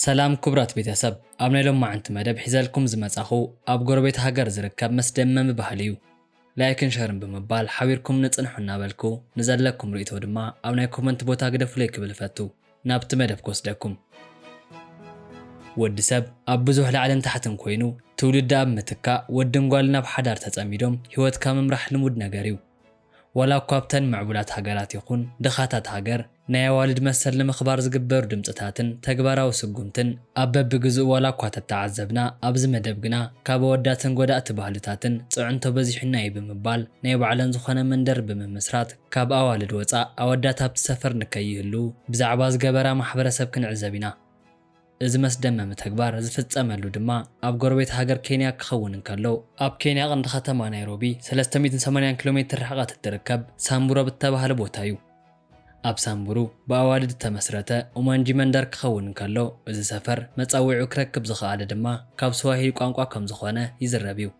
ሰላም ክቡራት ቤተሰብ፣ ኣብ ናይ ሎማዕንቲ መደብ ሒዘልኩም ዝመጻኹ ኣብ ጎረቤት ሃገር ዝርከብ መስደመሚ ባህሊ እዩ። ላይክን ሸርን ብምባል ሓቢርኩም ንጽንሑ እናበልኩ ንዘለኩም ርእይቶ ድማ ኣብ ናይ ኮመንት ቦታ ግደፉለይ ክብል እፈቱ። ናብቲ መደብ ክወስደኩም። ወዲ ሰብ ኣብ ብዙሕ ላዕልን ታሕትን ኮይኑ ትውልዲ ኣብ ምትካእ ወድን ጓልን ኣብ ሓዳር ተጸሚዶም ህይወትካ ምምራሕ ልሙድ ነገር እዩ። ዋላ እኳ ኣብተን ምዕቡላት ሃገራት ይኹን ድኻታት ሃገር ናይ ኣዋልድ መሰል ንምኽባር ዝግበሩ ድምጽታትን ተግባራዊ ስጉምትን ኣብ በብግዝኡ ዋላ እኳ ተተዓዘብና ኣብዚ መደብ ግና ካብ ኣወዳትን ጎዳእቲ ባህልታትን ጽዕንቶ በዚሑና እዩ ብምባል ናይ ባዕለን ዝኾነ መንደር ብምምስራት ካብ ኣዋልድ ወጻእ ኣወዳት ኣብቲ ሰፈር ንከይህልዉ ብዛዕባ ዝገበራ ማሕበረሰብ ክንዕዘብ ኢና። እዚ መስደመሚ ተግባር ዝፍጸመሉ ድማ ኣብ ጎረቤት ሃገር ኬንያ ክኸውን እንከሎ፣ ኣብ ኬንያ ቀንዲ ከተማ ናይሮቢ ሰለስተ ሚእትን ሰማንያን ኪሎ ሜትር ርሕቐት እትርከብ ሳምቡሮ ብተባህለ ቦታ እዩ። ኣብ ሳምቡሩ ብኣዋልድ እተመስረተ ኡማንጂ መንደር ክኸውን እንከሎ፣ እዚ ሰፈር መጻውዒኡ ክረክብ ዝኸኣለ ድማ ካብ ስዋሂሊ ቋንቋ ከም ዝኾነ ይዝረብ እዩ።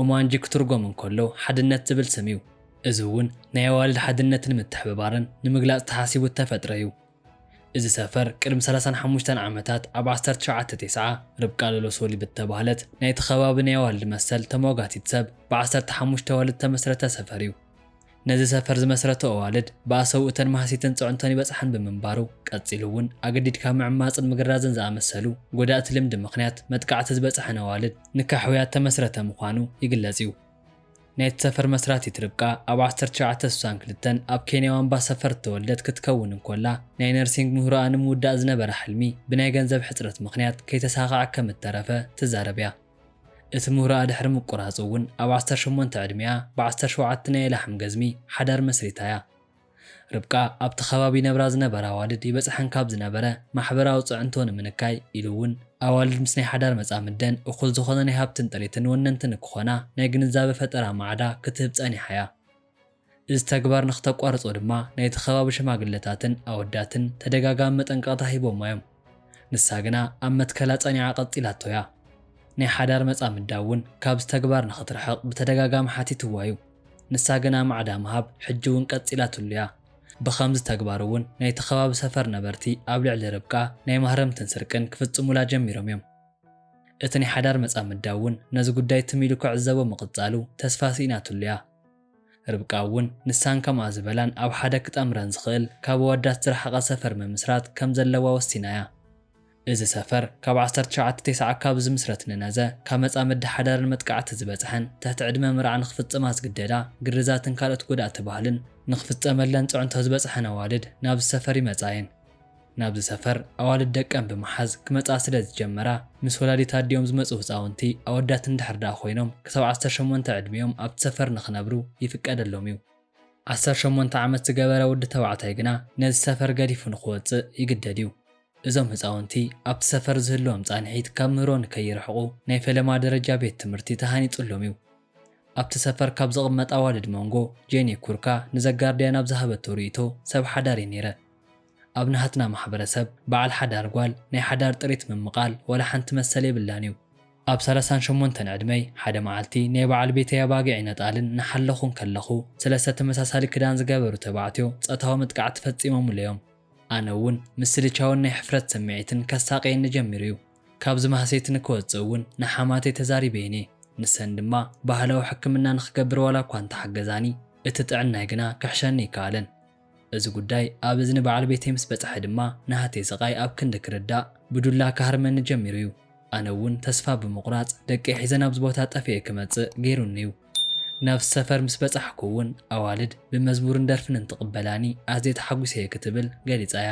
ኡማንጂ ክትርጎም እንከሎ ሓድነት ዝብል ስም እዩ። እዚ እውን ናይ ኣዋልድ ሓድነትን ምትሕብባርን ንምግላጽ ተሓሲቡ እተፈጥረ እዩ። እዚ ሰፈር ቅድሚ ሰላሳን ሓሙሽተን ዓመታት ኣብ ዓሰርተ ትሽዓተ ቴስዓ ርብቃ ሎሎሶሊ ብተባህለት ናይቲ ከባቢ ናይ ኣዋልድ መሰል ተሟጋቲት ሰብ ብዓሰርተ ሓሙሽተ ኣዋልድ ዝተመስረተ ሰፈር እዩ። ነዚ ሰፈር ዝመስረቱ ኣዋልድ ብኣሰቡ እተን ማህሲትን ፅዕንቶን ይበፅሐን ብምንባሩ ቀፂሉ እውን ኣገዲድካ ምዕማፅን ምግራዝን ዝኣመሰሉ ጎዳእቲ ልምዲ ምኽንያት መጥቃዕቲ ዝበፅሐን ኣዋልድ ንከሕውያ እተመስረተ ምዃኑ ይግለፅ እዩ። ናይቲ ሰፈር መስራቲት ርብቃ ኣብ ዓሰርተ ትሽዓተ ስሳን ክልተን ኣብ ኬንያ ዋምባ ሰፈር እተወልደት ክትከውን እንኮላ፣ ናይ ነርሲንግ ምህሮኣ ንምውዳእ ዝነበራ ሕልሚ ብናይ ገንዘብ ሕጽረት ምኽንያት ከይተሳኸዐ ከም እተረፈ ትዛረብ እያ። እቲ ምህሮኣ ድሕሪ ምቁራጹ እውን ኣብ ዓሰርተ ሸሞንተ ዕድሜኣ ብዓሰርተ ሸውዓተ ናይ ላሕም ገዝሚ ሓዳር መስሪታ እያ። ርብቃ ኣብቲ ከባቢ ይነብራ ዝነበራ ኣዋልድ ይበጽሐን ካብ ዝነበረ ማሕበራዊ ጽዕንቶ ንምንካይ ኢሉ እውን ኣዋልድ ምስ ናይ ሓዳር መጻምደን እኹል ዝኾነ ናይ ሃብትን ጥሪትን ወነንቲ ንክኾና ናይ ግንዛበ ፈጠራ ማዕዳ ክትህብ ጸኒሓ እያ። እዚ ተግባር ንክተቋርጾ ድማ ናይቲ ከባቢ ሽማግለታትን ኣወዳትን ተደጋጋሚ መጠንቀቕታ ሂቦማ እዮም። ንሳ ግና ኣብ መትከላ ጸኒዓ ቀጺላቶ እያ። ናይ ሓዳር መጻምዳ እውን ካብዚ ተግባር ንክትርሕቕ ብተደጋጋሚ ሓቲትዋ እዩ። ንሳ ግና ማዕዳ ምሃብ ሕጂ እውን ቀጺላትሉ እያ። ብኸምዚ ተግባር እውን ናይቲ ከባቢ ሰፈር ነበርቲ ኣብ ልዕሊ ርብቃ ናይ ማህረምትን ስርቅን ክፍጽሙላ ጀሚሮም እዮም። እቲ ናይ ሓዳር መጻምዳ እውን ነዚ ጉዳይ ትም ኢሉ ክዕዘቦ ምቕጻሉ ተስፋ ስኢናትሉ እያ። ርብቃ እውን ንሳን ከምኣ ዝበላን ኣብ ሓደ ክጠምረን ዝኽእል ካብ ኣወዳት ዝረሓቐ ሰፈር ምምስራት ከም ዘለዋ ወሲና እያ። እዚ ሰፈር ካብ ዓሰርተ ትሽዓተ ቴስዓ ካብ ዝምስረት ንነዘ፣ ካብ መጻምዲ ሓዳርን መጥቃዕቲ ዝበጽሐን፣ ትሕቲ ዕድመ መርዓ ንክፍጽማ ዝግደዳ፣ ግርዛትን ካልኦት ጎዳእቲ ባህልን፣ ንክፍጸመለን ጽዕንቶ ዝበጽሐን ኣዋልድ ናብዚ ሰፈር ይመጻ እየን። ናብዚ ሰፈር ኣዋልድ ደቀን ብምሓዝ ክመጽኣ ስለ ዝጀመራ፣ ምስ ወላዲት ኣዲኦም ዝመጹ ህጻውንቲ ኣወዳት እንድሕር ደኣ ኮይኖም ክሳብ ዓሰርተ ሸሞንተ ዕድሚኦም ኣብቲ ሰፈር ንክነብሩ ይፍቀደሎም እዩ። ዓሰርተ ሸሞንተ ዓመት ዝገበረ ወዲ ተባዕታይ ግና ነዚ ሰፈር ገዲፉ ንክወጽእ ይግደድ እዩ። እዞም ህፃውንቲ ኣብቲ ሰፈር ዝህልዎም ፃንሒት ካብ ምህሮ ንከይርሕቑ ናይ ፈለማ ደረጃ ቤት ትምህርቲ ተሃኒፁሎም እዩ። ኣብቲ ሰፈር ካብ ዝቕመጣ ኣዋልድ ሞንጎ ጄኒ ኩርካ ንዘጋርድያን ኣብ ዝሃበቶ ርኢቶ ሰብ ሓዳር እየ ነይረ። ኣብ ናሃትና ማሕበረሰብ በዓል ሓዳር ጓል ናይ ሓዳር ጥሪት ምምቓል ዋላ ሓንቲ መሰል የብላን እዩ። ኣብ ሰላሳን ሸሞንተን ዕድመይ ሓደ መዓልቲ ናይ በዓል ቤተይ ኣባጊዕን ኣጣልን እናሓለኹ እንከለኹ ሰለስተ ተመሳሳሊ ክዳን ዝገበሩ ተባዕትዮ ፆታዊ መጥቃዕቲ ፈፂሞሙለይ እዮም። ኣነ እውን ምስልቻውን ናይ ሕፍረት ስምዒትን ከሳቕየኒ ጀሚሩ እዩ። ካብዚ ማህሰይቲ ንክወጽእ እውን ንሓማተይ ተዛሪበ እየ። ንሰን ድማ ባህላዊ ሕክምና ንክገብር ዋላ እኳ እንተሓገዛኒ፣ እቲ ጥዕናይ ግና ክሕሸኒ ኣይከኣለን። እዚ ጉዳይ ኣብ እዝኒ በዓል ቤተይ ምስ በጽሐ ድማ ናህተይ ስቓይ ኣብ ክንዲ ክርዳእ ብዱላ ክሃርመኒ ጀሚሩ እዩ። ኣነ እውን ተስፋ ብምቑራጽ ደቀይ ሒዘ ናብዚ ቦታ ጠፊኤ ክመጽእ ገይሩኒ እዩ። ናብቲ ሰፈር ምስ በጻሕኩ'ውን ኣዋልድ ብመዝሙርን ደርፍን እንትቕበላኒ ኣዝየ ተሓጒሰ'የ ክትብል ገሊጻ'ያ።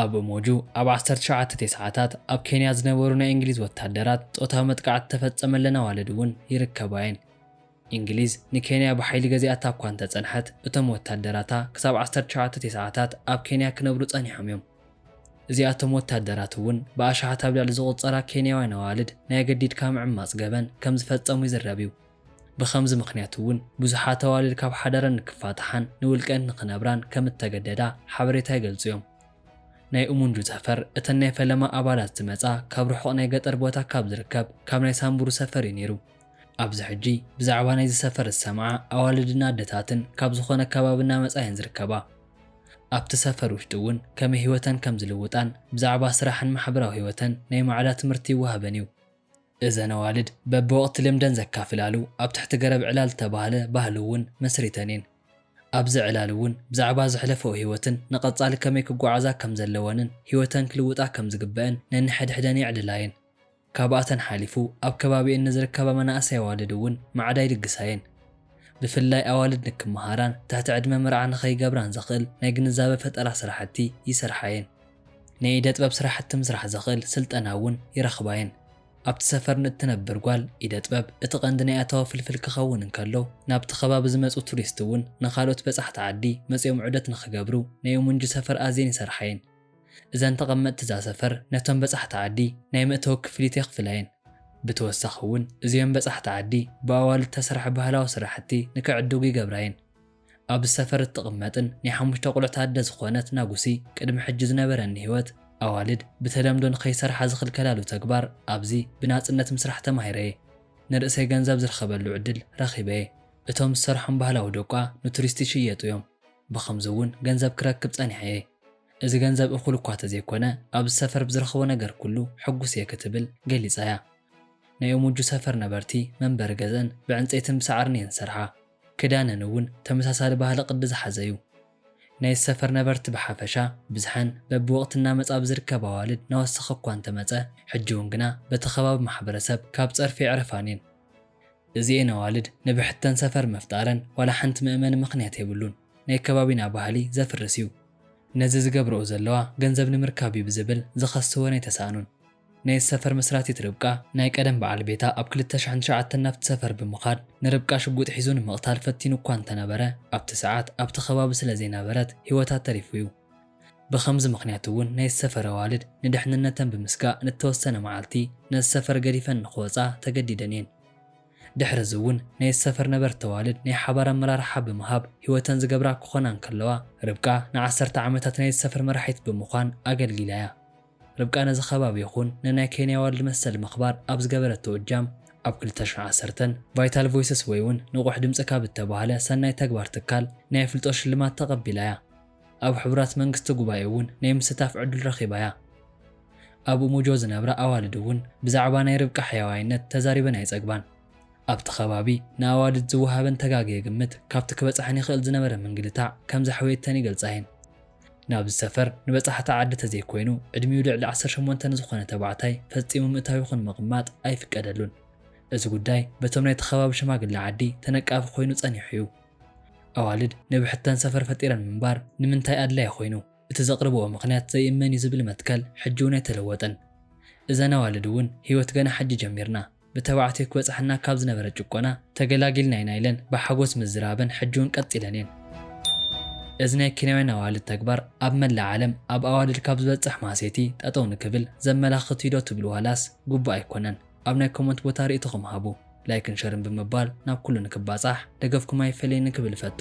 ኣብ ኡሞጁ ኣብ ዓሰርተ ሸውዓተ ቴስዓታት ኣብ ኬንያ ዝነበሩ ናይ እንግሊዝ ወታደራት ጾታዊ መጥቃዕቲ ዝተፈጸመለን ኣዋልድ'ውን ይርከባ'የን። እንግሊዝ ንኬንያ ብሓይሊ ገዚኣታ'ኳ እንተጸንሐት፣ እቶም ወታደራታ ክሳብ ዓሰርተ ሸውዓተ ቴስዓታት ኣብ ኬንያ ክነብሩ ጸኒሖም'ዮም። እዚኣቶም ወታደራት እውን ብኣሽሓት ኣብ ልዕሊ ዝቑጸራ ኬንያውያን ኣዋልድ ናይ ኣገዲድካ ምዕማጽ ገበን ከም ዝፈጸሙ ይዝረብ እዩ። ብኸምዚ ምኽንያት እውን ብዙሓት ኣዋልድ ካብ ሓዳረን ንክፋታሓን ንውልቀን ንክነብራን ከም እተገደዳ ሓበሬታ ይገልጹ እዮም። ናይ ኡሙንጁ ሰፈር እተን ናይ ፈለማ ኣባላት ዝመጻ ካብ ርሑቕ ናይ ገጠር ቦታ ካብ ዝርከብ ካብ ናይ ሳምቡሩ ሰፈር እዩ ነይሩ። ኣብዚ ሕጂ ብዛዕባ ናይዚ ሰፈር ዝሰምዓ ኣዋልድን ኣደታትን ካብ ዝኾነ ከባቢ እናመጻ እየን ዝርከባ። ኣብቲ ሰፈር ውሽጢ እውን ከመይ ህይወተን ከም ዝልውጣን ብዛዕባ ስራሕን ማሕበራዊ ህይወተን ናይ ማዕዳ ትምህርቲ ይወሃበን እዩ። እዘን ኣዋልድ በብወቕቲ ልምደን ዘካፍላሉ ኣብ ትሕቲ ገረብ ዕላል ዝተባህለ ባህሊ እውን መስሪተን እየን። ኣብዚ ዕላል እውን ብዛዕባ ዘሕለፈኦ ህይወትን ንቐፃሊ ከመይ ክጓዓዛ ከም ዘለወንን ህይወተን ክልውጣ ከም ዝግበእን ነንሕድሕደን የዕልላ እየን። ካብኣተን ሓሊፉ ኣብ ከባቢኤን ንዝርከባ መናእሰይ ኣዋልድ እውን ማዕዳ ይልግሳ'የን። ብፍላይ ኣዋልድ ንክመሃራን ትሕቲ ዕድመ መርዓ ንኸይገብራን ዘኽእል ናይ ግንዛበ ፈጠራ ስራሕቲ ይሰርሓ'የን። ናይ ኢደ ጥበብ ስራሕቲ ምስራሕ ዘኽእል ስልጠና እውን ይረኽባ'የን። ኣብቲ ሰፈር ንእትነብር ጓል ኢደ ጥበብ እቲ ቀንዲ ናይ ኣታዊ ፍልፍል ክኸውን እንከሎ፣ ናብቲ ከባቢ ዝመጹ ቱሪስት እውን ንኻልኦት በጻሕቲ ዓዲ መጺኦም ዑደት ንኽገብሩ ናይ ኡሙንጂ ሰፈር ኣዝየን ይሰርሓ'የን። እዘን ተቐመጥቲ እዛ ሰፈር ነቶም በጻሕቲ ዓዲ ናይ መእተዊ ክፍሊት የኽፍላ እየን። ብተወሳኺ እውን እዚኦም በጻሕቲ ዓዲ ብኣዋልድ እተሰርሐ ባህላዊ ስራሕቲ ንክዕድጉ ይገብራ እየን። ኣብዚ ሰፈር እትቕመጥን ናይ ሓሙሽተ ቁልዕት ኣደ ዝኾነት ናጉሲ ቅድሚ ሕጂ ዝነበረኒ ህይወት ኣዋልድ ብተለምዶ ንከይሰርሓ ዝኽልከላሉ ተግባር ኣብዚ ብናጽነት ምስራሕ ተማሂረ እየ። ንርእሰይ ገንዘብ ዝርኸበሉ ዕድል ረኺበ እየ። እቶም ዝሰርሖም ባህላዊ ደቋ ንቱሪስት ይሽየጡ እዮም። ብኸምዚ እውን ገንዘብ ክረክብ ጸኒሐ እየ። እዚ ገንዘብ እኹል እኳ ተዘይኮነ ኣብዚ ሰፈር ብዝረኽቦ ነገር ኩሉ ሕጉስ እየ ክትብል ገሊጻ'ያ። ናይ ኡሙጁ ሰፈር ነበርቲ መንበሪ ገዝኣን ብዕንጸይትን ብሳዕርን እየን ዝሰርሓ። ክዳነን እውን ተመሳሳሊ ባህሊ ቅዲ ዝሓዘ'ዩ። ናይዚ ሰፈር ነበርቲ ብሓፈሻ ብዝሐን በብወቕቲ እናመጽኣ ብዝርከብ ኣዋልድ እናወሰኸ እኳ እንተመጸ ሕጂ'ውን ግና በቲ ከባቢ ማሕበረሰብ ካብ ጸርፊ ኣይዕረፋን እየን። እዚኤን ኣዋልድ ንብሕተን ሰፈር ምፍጣረን ዋላ ሓንቲ መእመኒ ምኽንያት የብሉን። ናይ ከባቢና ባህሊ ዘፍርስ እዩ። ነዚ ዝገብረኦ ዘለዋ ገንዘብ ንምርካብ እዩ ብዝብል ዝኸስወን ኣይተሳእኑን። ናይዚ ሰፈር መስራቲት ርብቃ ናይ ቀደም በዓል ቤታ ኣብ ክልተ ሽሕን ትሽዓተን ናብቲ ሰፈር ብምኻድ ንርብቃ ሽጉጥ ሒዙ ንምቕታል ፈቲኑ እኳ እንተነበረ ኣብቲ ሰዓት ኣብቲ ከባቢ ስለዘይነበረት ህይወታ ተሪፉ እዩ። ብኸምዚ ምኽንያት እውን ናይዚ ሰፈር ኣዋልድ ንድሕንነተን ብምስጋእ ንተወሰነ መዓልቲ ነዚ ሰፈር ገዲፈን ንኽወፃ ተገዲደን እየን። ድሕሪ እዚ እውን ናይቲ ሰፈር ነበርቲ ኣዋልድ ናይ ሓባር ኣመራርሓ ብምሃብ ህይወተን ዝገብራ ክኾና እንከለዋ፣ ርብቃ ንዓሰርተ ዓመታት ናይቲ ሰፈር መራሒት ብምዃን ኣገልጊላ እያ። ርብቃ ነዚ ከባቢ ይኹን ንናይ ኬንያ ኣዋልድ መሰል ምኽባር ኣብ ዝገበረቶ እጃም፣ ኣብ ክልተ ሽሕ ዓሰርተ ን ቫይታል ቮይስስ ወይ እውን ንቑሕ ድምጺ ካብ እተባህለ ሰናይ ተግባር ትካል ናይ ኣፍልጦ ሽልማት ተቐቢላ እያ። ኣብ ሕቡራት መንግስቲ ጉባኤ እውን ናይ ምስታፍ ዕዱል ረኺባ እያ። ኣብ ኡሙጆ ዝነብራ ኣዋልድ እውን ብዛዕባ ናይ ርብቃ ሕያዋይነት ተዛሪበን ኣይጸግባን። ኣብቲ ከባቢ ንኣዋልድ ዝወሃበን ተጋግየ ግምት ካብቲ ክበጽሐን ይኽእል ዝነበረ ምንግልታዕ ከም ዘሕወየተን ይገልጻ እየን። ናብዚ ሰፈር ንበጻሕቲ ዓዲ ተዘይኮይኑ ዕድሚኡ ልዕሊ ዓሰርተ ሸሞንተ ንዝኾነ ተባዕታይ ፈጺሙ ምእታው ይኹን ምቕማጥ ኣይፍቀደሉን። እዚ ጉዳይ በቶም ናይቲ ከባቢ ሽማግለ ዓዲ ተነቃፊ ኮይኑ ጸኒሑ እዩ። ኣዋልድ ንብሕተን ሰፈር ፈጢረን ምንባር ንምንታይ ኣድላዪ ኮይኑ? እቲ ዘቕርብኦ ምኽንያት ዘይእመን እዩ ዝብል መትከል ሕጂ'ውን ኣይተለወጠን። እዘን ኣዋልድ'ውን ህይወት ገና ሕጂ ጀሚርና፣ ብተባዕትዮ ክበጽሓና ካብ ዝነበረ ጭቆና ተገላጊልና ኢና ኢለን ብሓጎስ ምዝራበን ሕጂ'ውን ቀጺለን እየን። እዚ ናይ ኬንያውያን ኣዋልድ ተግባር ኣብ መላእ ዓለም ኣብ ኣዋልድ ካብ ዝበጽሕ ማህሰይቲ ጠጠው ንክብል ዘመላኽት እዩ'ዶ ትብሉ ዋላስ ግቡእ ኣይኮነን? ኣብ ናይ ኮመንት ቦታ ሪኢቶኹም ሃቡ ላይክን ሸርን ብምባል ናብ ኩሉ ንክባጻሕ ደገፍኩም ኣይፈለየኒ ክብል እፈቱ።